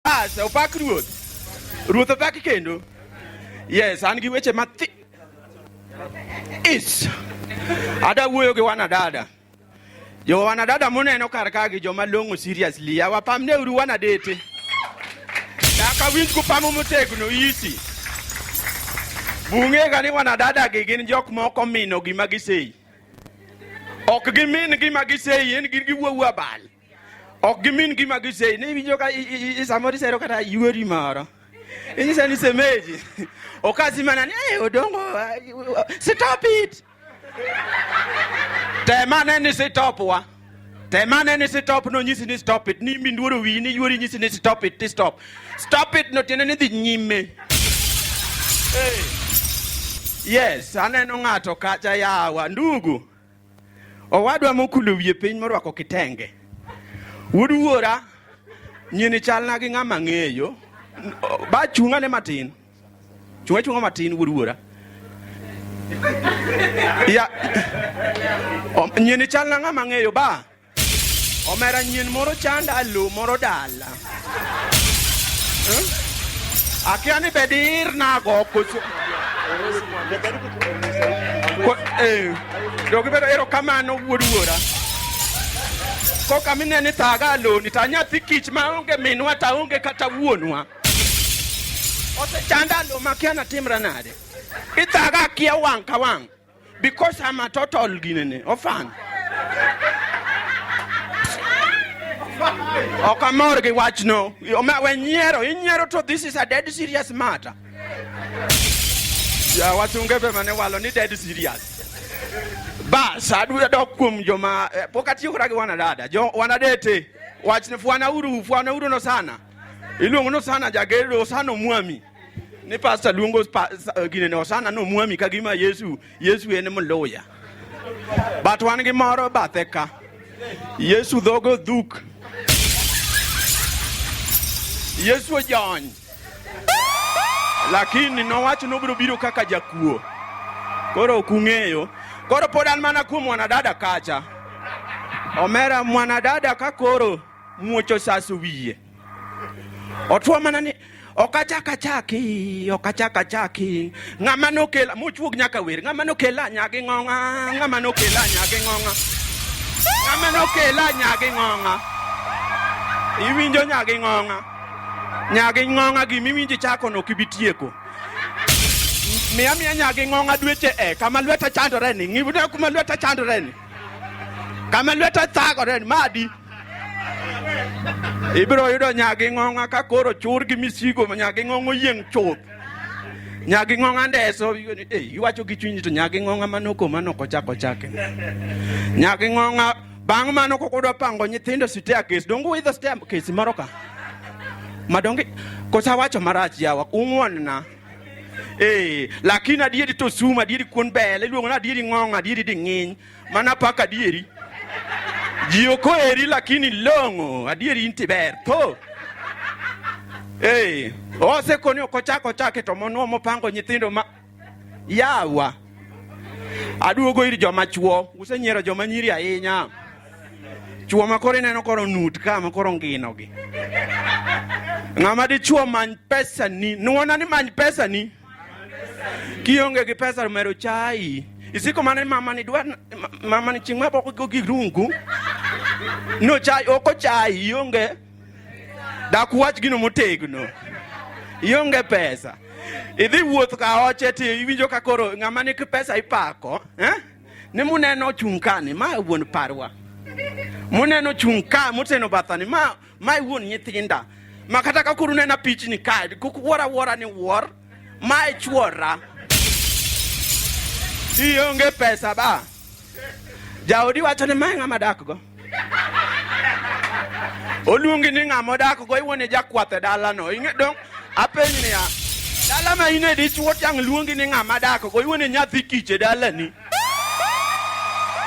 Asa, opak ruoth. Ruoth opak kendo. Yes, an gi weche mathi. Is. Ada wuoyo gi wanadada. Jo wanadada muneno kar ka gi joma long'o seriously. Awapamne uru wanadete. Daka winj kupamo motegno isi. Bunge gani wanadada gi gin jok moko mino gima giseyi. Ok gimin gima giseyi, en gin giwuowu abal. ok gimin gima giseyi ne iwinjo ka samoro isero kata yuori moro inyisa ni semeji okazi mana ni hey, odongo uh, stop it temane ni stop wa temane ni stop no nyisi ni stop it ni minduoro wi ni yuori nyisi ni stop it ti stop stop it no tiende ni dhi nyime hey. yes aneno ng'ato kacha yawa ndugu Owadwa mokulo wiye piny morwako kitenge. Wuod wuora nyini chalna gi ng'ama ng'eyo. Ba chunga ne matin. Chunga chunga matin wuod wuora. Ya. Nyini chalna ng'ama ng'eyo ba. Omera nyien moro chanda lo moro dala. Eh? Akia ni bedir na go koso. Ko- Eh, dogi bedo ero kamano wuod wuora. Koka mine ni taga lo ni ta nyathi kich ma onge minwa ta onge kata wuonwa. Ose chanda lo makia na timra nade. Itaga akia wang' ka wang'. because I'm a total Guinea orphan. ok amor gi wachno we nyiero inyiero to this is a dead serious matter ya wasunge be mane walo ni dead serious bas adwa dok kuom joma eh, pok atiyo kata gi wanadada jo wanadete wachne fwana uru fwana uru no sana iluongo no sana jagedo sana omwami ni pastor luongo eh, ginene osana no mwami ka gima yesu yesu en mluya but wan gi moro bathe ka yesu dhogo dhuk yesu ojony lakini nowacho nobiro biro kaka jakuo koro ok ung'eyo koro pod an mana kuom mwanadada kacha omera mwanadada ka koro muocho saso wiye Otwo mana ni ok achak achaki ok achak achaki ng'ama nokela mochuog nyaka wer ng'ama nokela nyagi ng'ong'a ng'ama nokela nyagi ng'ong'a ng'ama nokela nyagi ng'ong'a iwinjo nyagi ng'ong'a nyagi ng'ong'a gima iwinjo chako no kibi tieko miya miya nyagi ng'ong'a dweche e kama lweta chandore ni ng'ibna kuma lweta chandore ni kama lweta thagore madi ibiro yudo nyagi ng'ong'a ka koro chur gi misigo nyagi ng'ong'o yieng' chuth nyagi ng'ong'a ndeso eh, iwacho gi chunyi to nyagi ng'ong'a manoko manoko chako chake nyagi ng'ong'a bang' mano kok udwa pango nyithindo site akes donge uidho site akes moro ka madonge kosawacho marach yawa ung'wonna Eh, lakini adieri to sum, adieri kuon bel, iluongo ni adieri ng'ong, adieri di ng'iny. Mana pak adieri. Ji ok oheri lakini long'o, adieri inti ber. Tho. Eh, osekoni ok ochak ochake to mono mopango nyithindo ma yawa. Aduogo ir joma chuo, usenyiero joma nyiri ahinya. Chuo ma koro ineno koro nut ka ma koro ngino gi. Ng'ama dichuo many pesa ni, nuona ni many pesa ni. Kionge gi pesa mero chai. Isiko mane mama ni dwa mama ni chingma boko go gi rungu. No chai oko chai ionge. Dak wach gino motegno. Ionge pesa. Idhi wuoth ka oche ti iwinjo ka koro ng'ama ni pesa ipako, eh? ni muneno ochung' ka ni ma wuon parwa muneno chung' ka moteno batha ni ma ma e wuon nyithinda ma kata ka kuru nena pichni ka kukuwora wora ni wuor ma e chuora ionge pesa ba jaodi wacho ni ma e ng'ama dakgo oluongi ni ng'ama odak go iwuon ni jakwath e dalano ing'e dong apeny niya dala ma in e dichuo tiang' luongi ni ng'ama dak go iwuon ni nyathi kich e dalani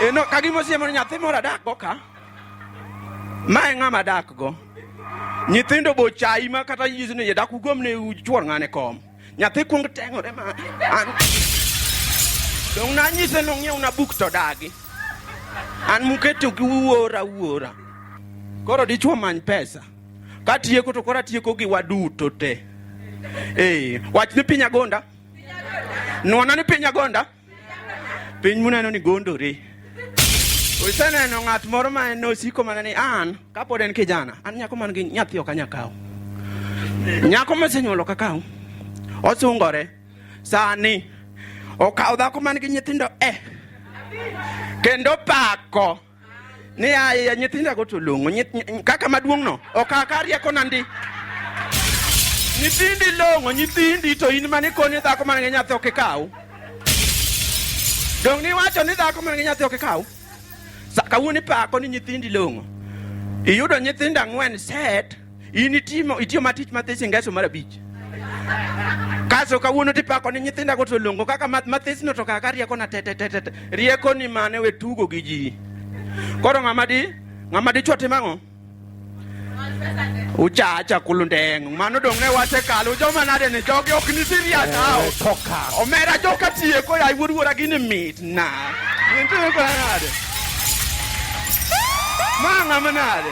eno ka gima osiemo ni nyathi moro adak go ka ma e ng'ama dak go nyithindo bochayi ma kata yisni yadak ugomne uchuor ng'ane kom Nyathi kuong teng'ore ma an dong' nanyise nong'iewna buk to dagi an muketo gi wuora wuora koro dichwo many pesa katieko to koro atieko gi waduto te ee wach ni piny agonda nwana ni piny agonda Piny muneno ni gondore. Useneno ng'at moro ma en osiko mana ni an kapod en kijana, an nyako man gi nyathi ok anya kawo. Nyako mosenyuolo ka kawo. Osungore. Sani okawo dhako man gi nyithindo eh. Kendo pako. ni aye nyithinda go to longo kaka maduong no okaka rieko na ndi nyithindi longo nyithindi to in mane koni dhako man gi nyathi ok ikaw dong ni wacho ni dhako man gi nyathi ok ikaw kawuono ipako ni nyithindi longo iyudo nyithindo ang'wen set In itimo itiyo matich mathis ingeso mar abich. Kaso kawuono tipako ni nyithinda go to longo kaka mathis no to kaka rieko na tete tete. Rieko ni mane we tugo gi ji. Koro ng'ama di ng'ama di choti mang'o? uchacha kulundeng mano dong' ne wache kalo joma nade ni jogi ok ni serious hao eh, omera joka tieko ya wuod wuora gini mit na nitieko nade ma ng'ama nade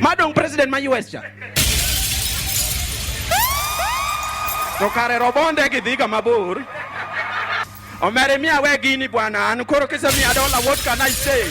Madong president ma US cha. To kare robonde gi dhiga mabor. Omere miya we gini bwana, an koro kisemiya dola what can I say?